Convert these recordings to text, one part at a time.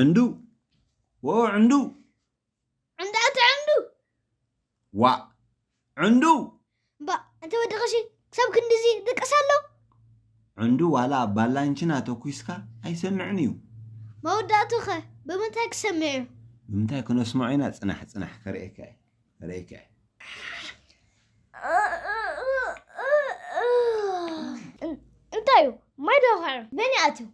ዕንዱ ወኦ ዕንዱ ዕንዱ ኣቲ ዕንዱ ዋእ ዕንዱ እባ እቲ ወዲ ቀሺ ክሳብ ክንድዚ ድቅስ ኣሎ ዕንዱ ዋላ ኣብ ባላንችና ተኲስካ ኣይሰምዕን እዩ መወዳእቱ ኸ ብምንታይ ክሰምዕ እዩ ብምንታይ ክነስምዖ ኢና ፅናሕ ፅናሕ ከርእየካ እየ ከርእየካ እየ እንታይ እዩ ማይ ዶ ኸዕር መን ይኣትዩ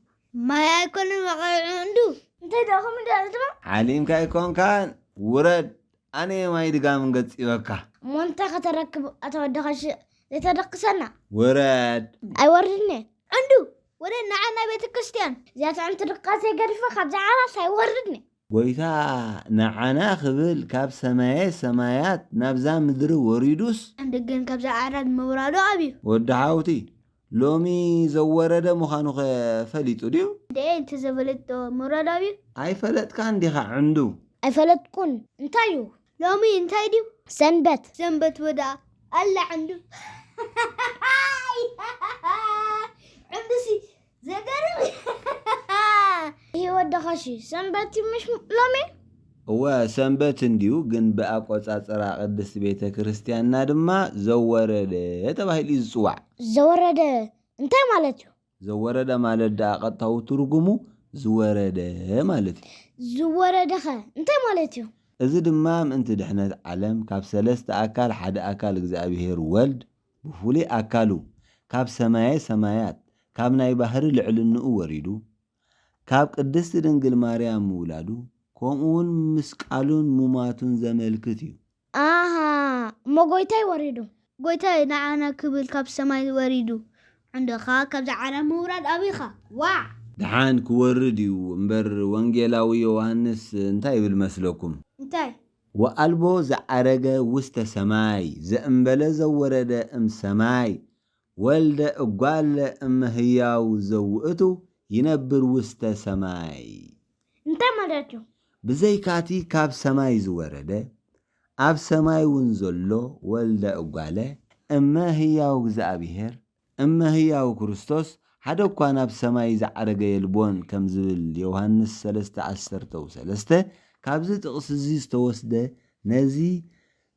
ማይ ኣይኮነን ወቒዑ እንዱ እንታይ ድኣ ከምኡ ድኣ ዝትብል። ዓሊምካ ኣይኮንካን ውረድ ኣነየ ማይ ድጋም ገጺበካ። እሞ እንታይ ከተረክብ ኣታ ወዲ ቐሺ ዘይተደቅሰና። ውረድ። ኣይወርድንየ ዕንዱ ወደ ንዓ ናይ ቤተክርስትያን እዚኣ ትዕምቲ ድቃስ ዘይገድፈ ካብዚ ዓራት ኣይወርድንየ። ጎይታ ንዓና ክብል ካብ ሰማየ ሰማያት ናብዛ ምድሪ ወሪዱስ። እንድ ግን ካብዛ ዓራት ምውራዱ ኣብዩ። ወዲ ሓውቲ ሎሚ ዘወረደ ምዃኑኸ ፈሊጡ ድዩ? እንድዒ እንተዘይፈለጥዎ ምውራዱ ኣብዩ። ኣይፈለጥካን ዲኻ ዕንዱ? ኣይፈለጥኩን እንታይ እዩ? ሎሚ እንታይ ድዩ? ሰንበት። ሰንበት ወድኣ ኣላ ዕንዱ። ዕንዱሲ ዘገርም እዩ ይህ ወደኻሽ ሰንበት ምሽ ሎሚ እወ ሰንበት እንዲዩ ግን ብኣቆጻጽራ ቅድስት ቤተ ክርስቲያንና ድማ ዘወረደ ተባሂሉ እዩ ዝፅዋዕ ዘወረደ እንታይ ማለት እዩ ዘወረደ ማለት ደኣ ቀጥታዊ ትርጉሙ ዝወረደ ማለት እዩ ዝወረደኸ እንታይ ማለት እዩ እዚ ድማ ምእንቲ ድሕነት ዓለም ካብ ሰለስተ ኣካል ሓደ ኣካል እግዚኣብሔር ወልድ ብፍሉይ ኣካሉ ካብ ሰማየ ሰማያት ካብ ናይ ባህሪ ልዕልንኡ ወሪዱ ካብ ቅድስት ድንግል ማርያም ምውላዱ ከምኡውን ምስቃሉን ሙማቱን ዘመልክት እዩ። ኣሃ እሞ ጎይታይ ወሪዱ። ጎይታይ ንዓና ክብል ካብ ሰማይ ወሪዱ። ዕንደኻ ካብዚ ዓለም ምውራድ ኣቢኻ። ዋዕ! ድሓን ክወርድ እዩ እምበር ወንጌላዊ ዮውሃንስ እንታይ ይብል መስለኩም? እንታይ ወኣልቦ ዘዓረገ ውስተ ሰማይ ዘእምበለ ዘወረደ እም ሰማይ ወልደ እጓለ እመ ህያው ዘውእቱ ይነብር ውስተ ሰማይ። እንታይ ማለት እዩ? ብዘይካቲ ካብ ሰማይ ዝወረደ ኣብ ሰማይውን ዘሎ ወልደ እጓለ እመ ህያው እግዚኣብሔር እመ ህያው ክርስቶስ ሓደ እኳ ናብ ሰማይ ዝዓረገ የልቦን ከም ዝብል ዮውሃንስ ሰለስተ ዓሰርተው ሰለስተ ካብዚ ጥቕሲ እዚ ዝተወስደ ነዚ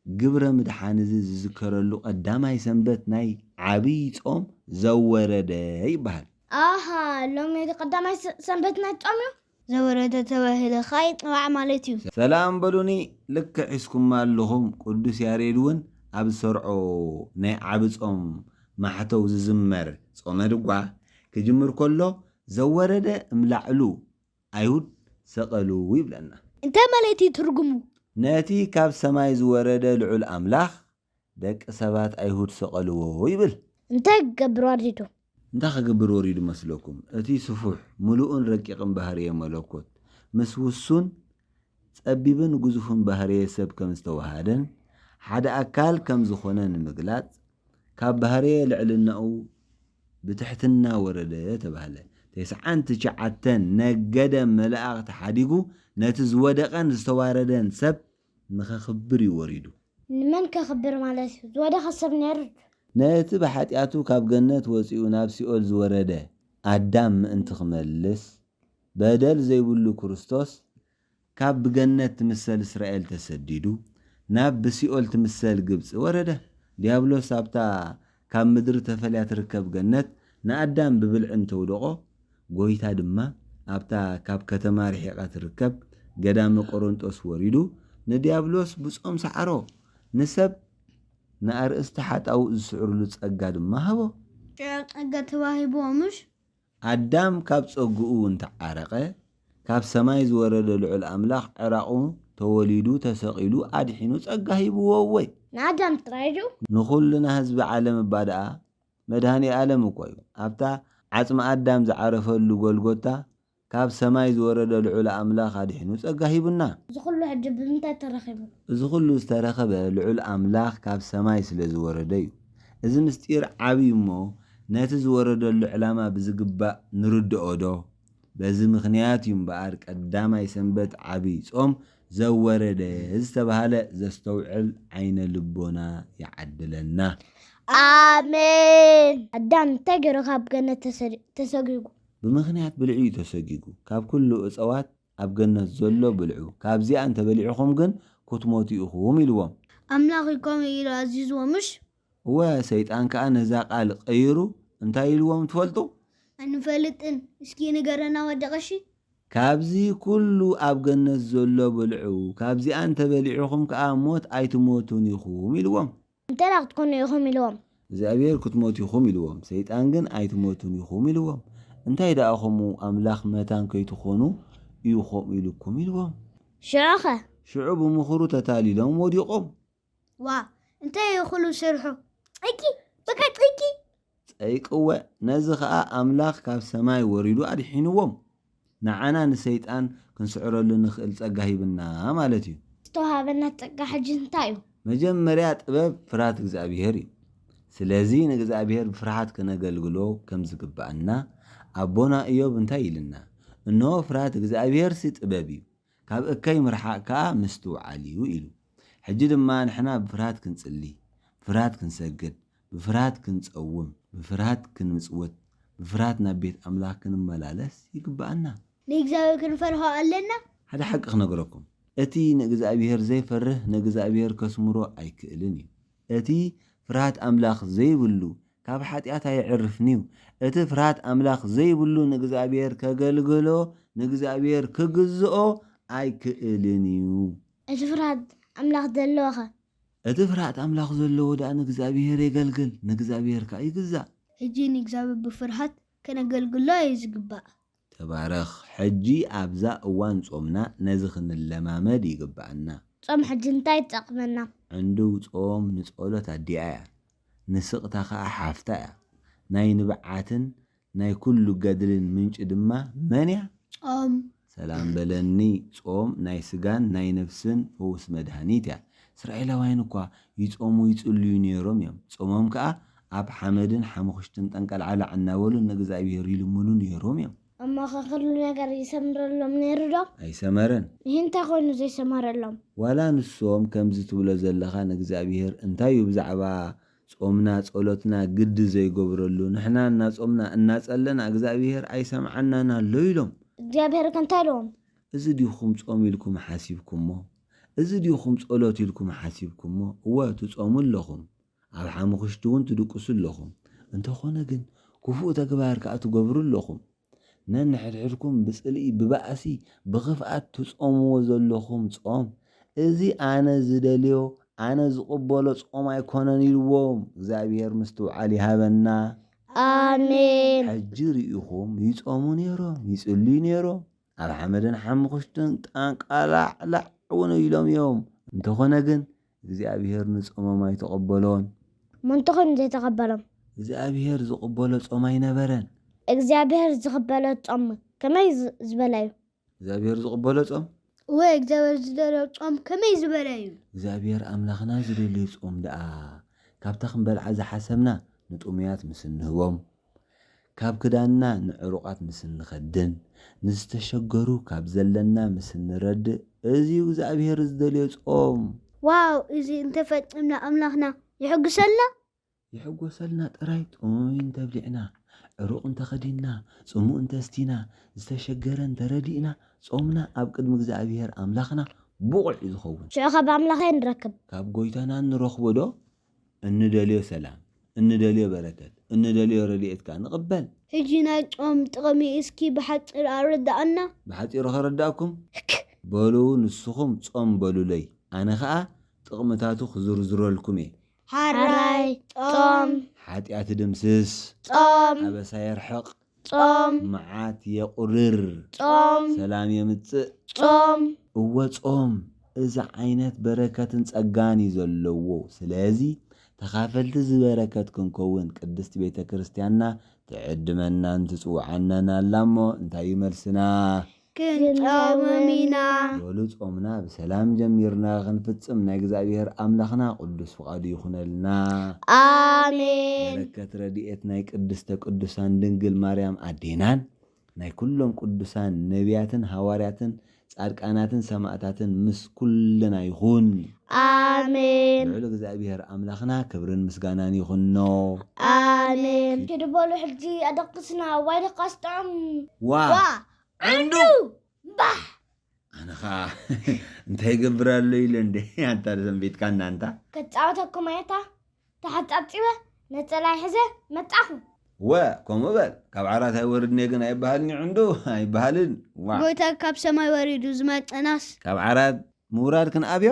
ግብረ ምድሓን እዚ ዝዝከረሉ ቀዳማይ ሰንበት ናይ ዓቢይ ጾም ዘወረደ ይበሃል። ኣሃ ሎሚ ቀዳማይ ሰንበት ናይ ጾም እዩ። ዘወረደ ተባሂለ ከኣ ይጥባዕ ማለት እዩ። ሰላም በሉኒ ልክዕ ሒዝኩማ ኣለኹም ቅዱስ ያሬድ ውን ኣብ ዝሰርዖ ናይ ዓቢ ጾም ማሕተው ዝዝመር ጾመ ድጓ ክጅምር ከሎ ዘወረደ እም ላዕሉ ኣይሁድ ሰቀሉ ይብለና። እንታይ ማለት እዩ ትርጉሙ? ነቲ ካብ ሰማይ ዝወረደ ልዑል ኣምላኽ ደቂ ሰባት ኣይሁድ ሰቐልዎ ይብል። እንታይ ክገብር ወሪዱ? እንታይ ክገብር ወሪዱ መስለኩም? እቲ ስፉሕ፣ ምሉእን ረቂቕን ባህርየ መለኮት ምስ ውሱን፣ ጸቢብን ግዙፍን ባህርየ ሰብ ከም ዝተወሃደን ሓደ ኣካል ከም ዝኾነ ንምግላጽ ካብ ባህርየ ልዕልናኡ ብትሕትና ወረደ ተባህለ። ተስዓን ትሽዓተን ነገደ መላእኽቲ ሓዲጉ ነቲ ዝወደቐን ዝተዋረደን ሰብ ንኸክብር እዩ ወሪዱ። ንመን ከክብር ማለት እዩ? ዝወደቐ ሰብ ነይሩ ድዩ? ነቲ ብሓጢኣቱ ካብ ገነት ወጺኡ ናብ ሲኦል ዝወረደ ኣዳም ምእንቲ ክመልስ፣ በደል ዘይብሉ ክርስቶስ፣ ካብ ብገነት ትምሰል እስራኤል ተሰዲዱ፣ ናብ ብሲኦል ትምሰል ግብጺ ወረደ። ድያብሎስ ኣብታ ካብ ምድሪ ተፈልያ ትርከብ ገነት ንኣዳም ብብልዒ እንተውደቖ፣ ጐይታ ድማ ኣብታ ካብ ከተማ ርሒቓ ትርከብ ገዳመ ቆሮንጦስ ወሪዱ ንድያብሎስ ብጾም ሰዓሮ፣ ንሰብ ንኣርእስቲ ሓጣውእ ዝስዕርሉ ጸጋ ድማ ሃቦ። ጸጋ ተዋሂብዎ ምሽ? ኣዳም ካብ ጸግኡ እንተ ዓረቐ፣ ካብ ሰማይ ዝወረደ ልዑል ኣምላኽ ዕራቑ ተወሊዱ ተሰቒሉ ኣድሒኑ ጸጋ ሂብዎ እወ! ንኣዳም ጥራይ ድዩ? ንኹልና ህዝቢ ዓለም እባ ደኣ መድሃኔ ኣለም እኮ እዩ ኣብታ ዓጽሚ ኣዳም ዝዓረፈሉ ጎልጎታ ካብ ሰማይ ዝወረደ ልዑል ኣምላኽ ኣድሒኑ ጸጋ ሂቡና። እዚ ኩሉ ሕጂ ብምንታይ ተረኺቡ? እዚ ኩሉ ዝተረኸበ ልዑል ኣምላኽ ካብ ሰማይ ስለ ዝወረደ እዩ። እዚ ምስጢር ዓብዩ እሞ ነቲ ዝወረደሉ ዕላማ ብዝግባእ ንርድኦዶ? በዚ ምኽንያት እዩ እምበኣር ቀዳማይ ሰንበት ዓብይ ጾም ዘወረደ ዝተብሃለ ዘስተውዕል ዓይነ ልቦና ይዓድለና። ኣሜን። ኣዳም እንታይ ገይሩ ካብ ገነት ተሰጊጉ? ብምኽንያት ብልዒ እዩ ተሰጊጉ። ካብ ኩሉ እፀዋት ኣብ ገነት ዘሎ ብልዑ፣ ካብዚኣ እንተ በሊዕኹም ግን ኵትሞቱ ኢኹም ኢልዎም። ኣምላኽ'ዩ ከምኡ ኢሉ ኣዚዝዎም ምሽ? እወ፣ ሰይጣን ከኣ ነዛ ቓል ቐይሩ እንታይ ኢልዎም ትፈልጡ? ኣንፈልጥን፣ እስኪ ንገረና ወዲ ቐሺ። ካብዚ ኵሉ ኣብ ገነት ዘሎ ብልዑ፣ ካብዚኣ እንተ በሊዕኹም ከኣ ሞት ኣይትሞቱን ኢኹም ኢልዎም። እንተደኣ ክትኮኑ ኢኹም ኢልዎም። እግዚኣብሄር ክትሞቱ ኢኹም ኢልዎም። ሰይጣን ግን ኣይትሞቱን ኢኹም ኢልዎም። እንታይ ደኣ ከምኡ ኣምላኽ መታን ከይትኾኑ እዩ ከምኡ ኢሉኩም ኢልዎም። ሽዑኸ? ሽዑ ብምኽሩ ተታሊሎም ወዲቖም። ዋእ! እንታይ እዩ ኩሉ ስርሑ? ጸይቂ! በቃ ጸይቂ! ጸይቅወ ነዚ ከኣ ኣምላኽ ካብ ሰማይ ወሪዱ ኣድሒንዎም ንዓና ንሰይጣን ክንስዕረሉ ንኽእል ጸጋ ሂብና ማለት እዩ። ዝተዋሃበና ጸጋ ሕጂ እንታይ እዩ? መጀመርያ ጥበብ ፍርሃት እግዝኣብሄር እዩ። ስለዚ ንእግዝኣብሄር ብፍርሓት ከነገልግሎ ከም ዝግብኣና ኣቦና እዮብ እንታይ ኢልና እንሆ ፍርሃት እግዝኣብሄርሲ ጥበብ እዩ ካብ እከይ ምርሓቕ ከኣ ምስትውዓል እዩ ኢሉ። ሕጂ ድማ ንሕና ብፍርሃት ክንጽሊ፣ ብፍርሃት ክንሰግድ፣ ብፍርሃት ክንጸውም፣ ብፍርሃት ክንምጽውት፣ ብፍርሃት ናብ ቤት ኣምላኽ ክንመላለስ ይግብኣና። ንእግዚኣብሄር ክንፈርሆ ኣለና። ሓደ ሓቂ ክነግረኩም፣ እቲ ንእግዚኣብሄር ዘይፈርህ ንእግዚኣብሄር ከስምሮ ኣይክእልን እዩ። እቲ ፍርሃት ኣምላኽ ዘይብሉ፣ ካብ ሓጢኣት ኣየዕርፍን'ዩ። እቲ ፍርሃት ኣምላኽ ዘይብሉ ንእግዚኣብሄር ከገልግሎ፣ ንእግዚኣብሄር ክግዝኦ ኣይክእልን'ዩ። እቲ ፍርሃት ኣምላኽ ዘለዎኸ? እቲ ፍርሃት ኣምላኽ ዘለዎ ደኣ ንእግዚኣብሄር የገልግል፣ ንእግዚኣብሄር ከኣ ይግዛእ። ሕጂ ንእግዚኣብሄር ብፍርሃት ከነገልግሎ'ዩ ዝግባእ። ተባረኽ ሕጂ ኣብዛ እዋን ጾምና ነዚ ክንለማመድ ይግብኣና። ጾም ሕጂ እንታይ ይጠቅመና? ዕንዱው ጾም ንጸሎት ኣዲኣ እያ ንስቅታ ከኣ ሓፍታ እያ ናይ ንብዓትን ናይ ኩሉ ገድልን ምንጪ ድማ መን እያ? ጾም። ሰላም በለኒ ጾም ናይ ስጋን ናይ ነብስን ፈውስ መድሃኒት እያ እስራኤላውያን እኳ ይጾሙ ይጽልዩ ኔሮም እዮም ጾሞም ከኣ ኣብ ሓመድን ሓሙኽሽትን ጠንቀልዓላዕ እናበሉ ንእግዝኣብሄር ይልምኑ ነይሮም እዮም። እሞኸ ኹሉ ነገር ይሰምረሎም ነይሩዶ? ኣይሰመረን። እሂ እንታይ ኾይኑ ዘይሰመረሎም? ዋላ ንሶም ከምዚ ትብሎ ዘለኻ ንእግዝኣብሄር እንታይ እዩ ብዛዕባ ጾምና ጸሎትና ግዲ ዘይገብረሉ? ንሕና እናጾምና እናጸለና እግዝኣብሄር ኣይሰምዓናን ኣሎ ኢሎም። እግዚኣብሄር'ከ እንታይ ኢልዎም? እዚ ዲኹም ጾም ኢልኩም ሓሲብኩሞ? እዚ ዲኹም ጸሎት ኢልኩም ሓሲብኩሞ? እወ ትጾሙ ኣለኹም። ኣብ ሓሙኽሽቲ እውን ትድቅሱ ኣለኹም፣ እንተኾነ ግን ክፉእ ተግባር ከኣ ትገብሩ ኣለኹም። ነንሕድሕድኩም ብጽልኢ፣ ብባእሲ፣ ብኽፍኣት ትጾምዎ ዘለኹም ጾም፣ እዚ ኣነ ዝደልዮ፣ ኣነ ዝቕበሎ ጾም ኣይኮነን ኢልዎም። እግዚኣብሄር ምስትውዓል ይሃበና። ኣሜን። ሕጂ ርኢኹም፣ ይጾሙ ነይሮም፣ ይጽልዩ ነይሮም፣ ኣብ ሓመድን ሓሙኽሽትን ጣንቃላዕላዕ እውን ኢሎም እዮም፣ እንተኾነ ግን እግዚኣብሄር ንጾሞም ኣይተቐበሎን። መንቶ ኮይኑ ዘይተቐበሎም። እግዚኣብሄር ዝቕበሎ ጾም ኣይነበረን። እግዚኣብሄር ዝቕበሎ ጾም ከመይ ዝበለ እዩ? እግዚኣብሄር ዝቕበሎ ጾም። እወ፣ እግዚኣብሄር ዝደልዮ ጾም ከመይ ዝበለ እዩ? እግዚኣብሄር ኣምላኽና ዝደልዮ ጾም ደኣ፣ ካብታ ክንበልዓ ዝሓሰብና ንጥሙያት ምስ እንህቦም። ካብ ክዳንና ንዕሩቓት ምስ እንኸድን ንዝተሸገሩ ካብ ዘለና ምስ እንረድእ እዚዩ እግዝኣብሄር ዝደልዮ ጾም። ዋው እዚ እንተፈጺምና ኣምላኽና ይሕጉሰልና? ይሕጎሰልና ጥራይ ጥሙይ እንተብሊዕና ዕሩቕ እንተኸዲንና ጽሙእ እንተስቲና ዝተሸገረ እንተረዲእና ጾምና ኣብ ቅድሚ እግዝኣብሄር ኣምላኽና ብቑዕ እዩ ዝኸውን። ሽዑ ካብ ኣምላኽ ኣይ ንረክብ? ካብ ጎይታና ንረኽቦ ዶ? እንደልዮ ሰላም እንደልዮ በረከት እንደልዮ ረድኤት ከኣ ንቕበል። ሕጂ ናይ ጾም ጥቕሚ እስኪ ብሓጺር ኣረድኣና። ብሓጺሩ ከረድኣኩም? ህክ! በሉ ንስኹም ጾም በሉለይ ኣነ ከኣ ጥቕምታቱ ክዝርዝረልኩም'የ። ሐራይ ጾም። ሓጢኣት ይድምስስ። ጾም። ኣበሳ የርሕቕ። ጾም። መዓት የቑርር። ጾም። ሰላም የምጽእ። ጾም። እወ ጾም እዚ ዓይነት በረከትን ጸጋን እዩ ዘለዎ ስለዚ ተኻፈልቲ እዚ በረከት ክንከውን ቅድስት ቤተ ክርስትያንና ትዕድመናን ትጽውዓናን ኣላ እሞ እንታይ እዩ መልስና? ክንጾምም ኢና። በሉ ጾምና ብሰላም ጀሚርና ክንፍጽም ናይ እግዝኣብሄር ኣምላኽና ቅዱስ ፍቃዱ ይኹነልና። ኣሜን። በረከት ረድኤት ናይ ቅድስተ ቅዱሳን ድንግል ማርያም ኣዴናን ናይ ኩሎም ቅዱሳን ነብያትን ሃዋርያትን ጻድቃናትን ሰማእታትን ምስ ኩልና ይኹን። ኣሜን። ልዑል እግዝኣብሄር ኣምላኽና ክብርን ምስጋናን ይኹኖ። ኣሜን። ኪዱ በሉ ሕጂ ኣደቅስና ዋይ ደቃስ ጥዑም ዋእ ዋእ ዕንዱ ባህ ኣነ ኸዓ እንታይ ገብር ኣሎ ኢለ እንደ ኣንታ ሰንቢትካ እናንታ ከፃወተኩም ኣየታ ተሓፃፂበ ነፀላይ ሕዘ መጣኹ ወ ከምኡ በል ካብ ዓራት ኣይወርድን እየ ግን ኣይበሃልን እዩ ዕንዱ ኣይበሃልን ዋ ጎይታ ካብ ሰማይ ወሪዱ ዝመፀናስ ካብ ዓራት ምውራድ ክንኣብዮ